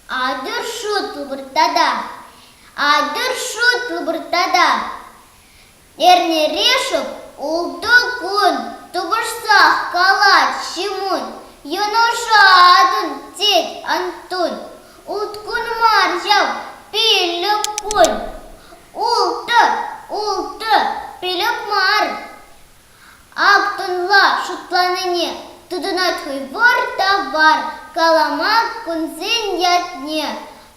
Атӑр шут выртата, атӑр шут выртата. Эрнерешев ултӑ кун тупӑшсах калать Ҫимун, Юнуша атӑн, тет Антун. Уткун мар ҫав, пиллӗк кун. Ултӑ, ултӑ, пиллӗк мар. Актӑнла шутланине тытӑнать хӑй вӑр та вар калама кунсен ятне.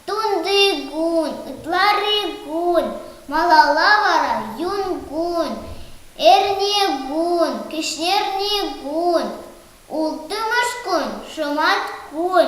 Тунтикун, ытларикун, малалла вара юнкун, эрнекун, кӗҫнерникун, улттӑмӗш кун, шӑматкун.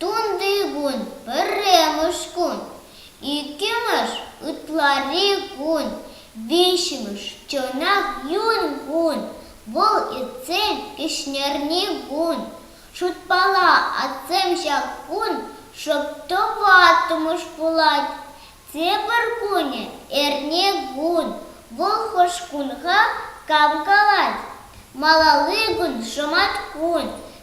Тунти кун пӗрремӗш кун, иккӗмӗш ытларри кун, виҫҫӗмӗш чӑнах юн кун. Вӑл иртсен кӗҫнерни кун. Шутпала, атсем ҫак кун шӑп тӑваттӑмӗш пулать. Тепӗр кунӗ эрне кун. Вӑл хӑш кунха кам калать? Малалли кун шӑматкун.